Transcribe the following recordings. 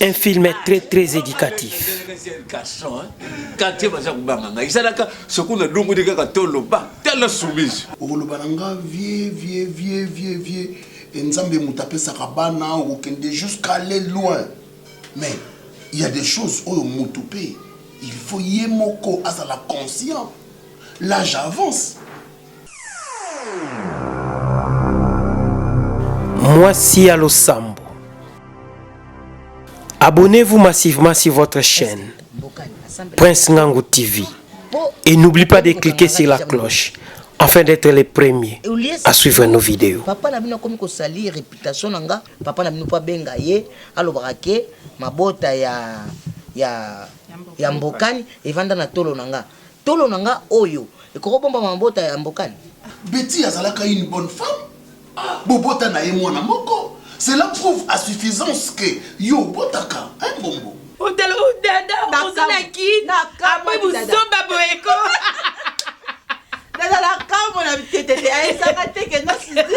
un film est très très éducatif quartier baza kobanga ngai ezalaka soki nalongoli kaka toloba tala soumise okoloba na nga vie vie vie vie vie e nzambe moto apesaka bana okokende jusqu'à aller loin mais il y a des choses oyo moto mpe il faut ye moko azala conscient l'âge avance Mwasi ya losambo. Abonnez-vous massivement sur votre chaîne Prince Ngangu TV et n'oublie pas de cliquer sur la cloche afin d'être les premiers à suivre nos vidéos. Papa na bino akomi kosalir réputation na nga papa na bino mpo abenga ye alobaka ke mabota ya ya ya mbokani evanda na tolo na nga Tolo na nga oyo ekoko bomba mabota ya mbokani. Betty azalaka une bonne femme bobota na ye mwana moko cela prouve à suffisance que yo obotaka hein mbombo. Otala oyo dada oza na kin après buzoba boye ko. Dada na kamue na biketete ayesaka te que non sisi.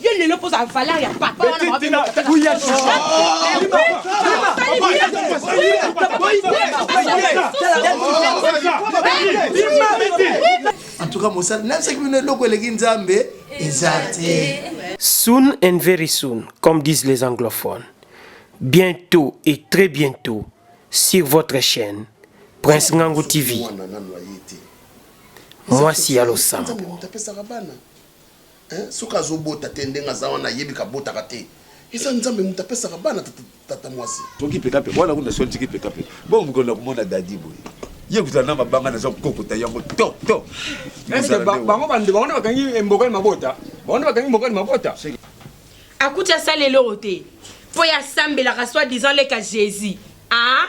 Yo lelo mpo ozala valeur ya papa wana mabe na papa. Kuya shisha. En tout cas, mosala nayebisaki bino eloko eleki nzambe eza te Soon and very soon, comme disent les anglophones. Bientôt et très bientôt sur votre chaîne Prince Ngango TV. Mwana nanu aye te. Mwasi ya losambo. Nzambe moto apesaka bana Hein soki azo bota te ndenge aza wana ayebi ka botaka te eza nzambe mutu apesaka bana tata muasi. Toki peka peka wana kuna soki tiki peka peka bon muko na kumona dadi boye ye kutana na mabanga naza kokota yango to to bango bande bango bakangi mboka ni mabota bango nde bakangi mboka ni mabota akuti asali eloko te mpo ye asambelaka soit disant leka jésus ah